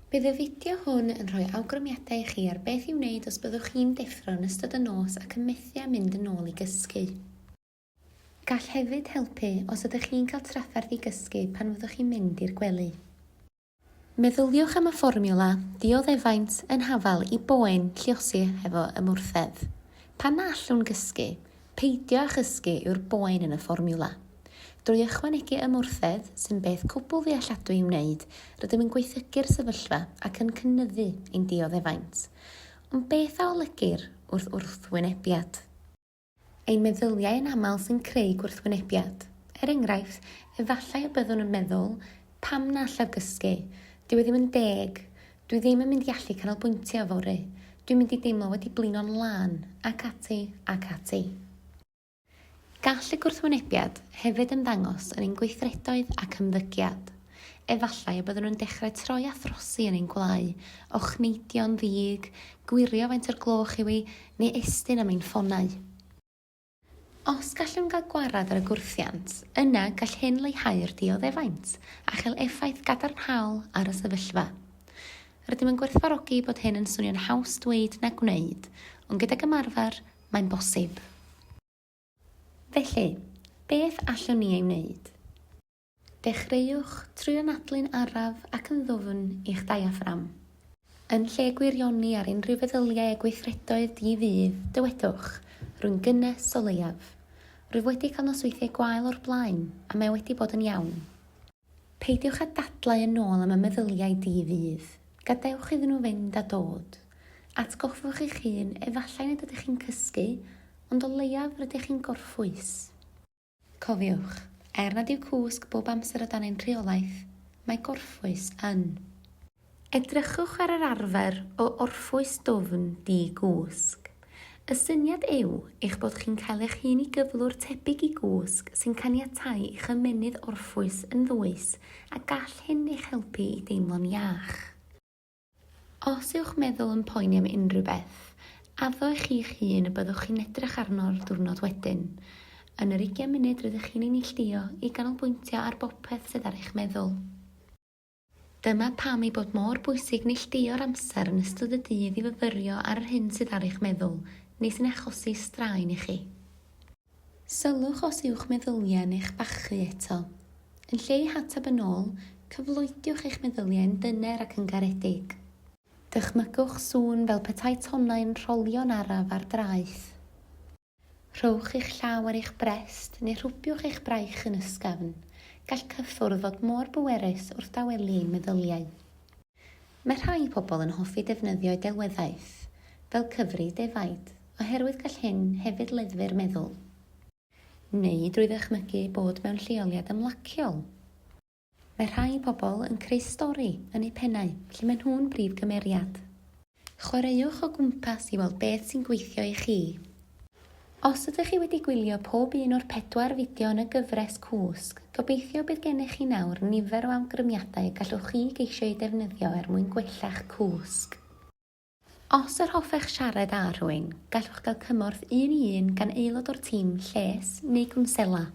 Bydd y fideo hwn yn rhoi awgrymiadau i chi ar beth i'w wneud os byddwch chi'n deffro yn ystod y nos ac yn methu â mynd yn ôl i gysgu. Gall hefyd helpu os ydych chi'n cael trafferth i gysgu pan fyddwch chi'n mynd i'r gwely. Meddyliwch am y fformiwla dioddefaint yn hafal i boen lluosi hefo ymwrthedd. Pan na allwn gysgu, Peidio â chysgu yw'r boen yn y fformiwla. Drwy ychwanegu ymwrthedd, sy'n beth cwbl ddealladwy i'w wneud, rydym yn gwaethygu'r sefyllfa ac yn cynyddu ein dioddefaint. Ond beth a olygir wrth wrthwynebiad? Ein meddyliau yn aml sy'n creu gwrthwynebiad. Er enghraifft, efallai y byddwn yn meddwl, Pam na allaf gysgu? Dyw e ddim yn deg. Dwi ddim yn mynd i allu canolbwyntio yfory. Dwi'n mynd i deimlo wedi blino'n lân, ac ati, ac ati. Gall y gwrthwynebiad hefyd ymddangos yn ein gweithredoedd ac ymddygiad. Efallai y byddwn yn dechrau troi a throsi yn ein gwlâu, ochneidio'n ddig, gwirio faint o'r gloch yw hi, neu estyn am ein ffonau. Os gallwn gael gwared ar y gwrthiant, yna gall hyn leihau'r dioddefaint a chael effaith gadarnhaol ar y sefyllfa. Rydym yn gwerthfawrogi bod hyn yn swnio'n haws dweud na gwneud, ond gydag ymarfer, mae'n bosib. Felly, beth allwn ni ei wneud? Dechreuwch trwy anadlu'n araf ac yn ddwfn i'ch diaffram. Yn lle gwirioni ar unrhyw feddyliau a gweithredoedd di-ddydd, dywedwch, Rwy'n gynnes o leiaf. Rwyf wedi cael nosweithiau gwael o'r blaen, a mae wedi bod yn iawn. Peidiwch â dadlau yn ôl am y meddyliau di-ddydd. Gadewch iddyn nhw fynd a dod. Atgoffwch eich hun, efallai nad ydych chi'n cysgu, ond o leiaf rydych chi'n gorffwys. Cofiwch, er nad yw cwsg bob amser o dan ein rheolaeth, mae gorffwys yn. Edrychwch ar yr arfer o orffwys dwfn di-gwsg. Y syniad yw eich bod chi'n cael eich hun i gyflwr tebyg i gwsg sy'n caniatáu i'ch ymennydd orffwys yn ddwys a gall hyn eich helpu i deimlo'n iach. Os yw'ch meddwl yn poeni am unrhyw beth, addo i chi'ch hun y byddwch chi'n edrych arno'r diwrnod wedyn. Yn yr ugain munud rydych chi'n ei neilltuo i ganolbwyntio ar bopeth sydd ar eich meddwl. Dyma pam ei bod mor bwysig neilltuo'r amser yn ystod y dydd i fyfyrio ar yr hyn sydd ar eich meddwl, neu sy'n achosi straen i chi. Sylwch os yw'ch meddyliau neu'ch bachu eto. Yn lle i hatab yn ôl, cyfloediwch eich meddyliau yn dyner ac yn garedig. Dychmygwch sŵn fel petai tonnau'n rholio'n araf ar draeth. Rhowch eich llaw ar eich brest neu rhwbiwch eich braich yn ysgafn, gall cyffwrdd fod mor bwerus wrth dawelu ein meddyliau. Mae rhai pobl yn hoffi defnyddio delweddaeth, fel cyfri defaid, oherwydd gall hyn hefyd leddfu'r meddwl. Neu drwy ddychmygu bod mewn lleoliad ymlaciol. Mae rhai pobl yn creu stori yn eu pennau lle maen nhw'n brif gymeriad. Chwaraewch o gwmpas i weld beth sy'n gweithio i chi. Os ydych chi wedi gwylio pob un o'r pedwar fideo yn y gyfres Cwsg, gobeithio bydd gennych chi nawr nifer o awgrymiadau y gallwch chi geisio eu defnyddio er mwyn gwella'ch cwsg. Os yr hoffech siarad â rhywun, gallwch gael cymorth un i un gan aelod o'r tîm lles neu gwnsela.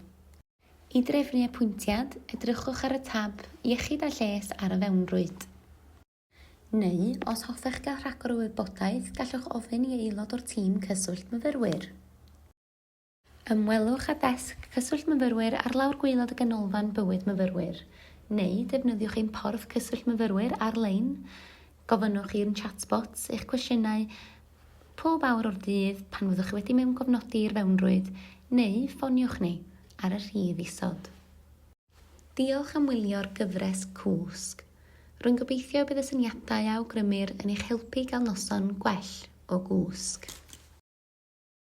I drefnu apwyntiad, edrychwch ar y tab 'Iechyd a Lles' ar y fewnrwyd. Neu, os hoffech gael rhagor o wybodaeth, gallwch ofyn i aelod o'r Tîm Cyswllt Myfyrwyr. Ymwelwch â Desg Cyswllt Myfyrwyr ar lawr gwaelod y Ganolfan Bywyd Myfyrwyr, neu defnyddiwch ein Porth Cyswllt Myfyrwyr ar-lein. Gofynnwch i'n chatbots eich cwestiynau pob awr o'r dydd pan fyddwch chi wedi mewngofnodi i'r fewnrwyd, neu ffoniwch ni ar y rhif isod. Diolch am wylio'r gyfres cwsg. Rwy'n gobeithio y bydd y syniadau a awgrymir yn eich helpu i gael noson gwell o gwsg.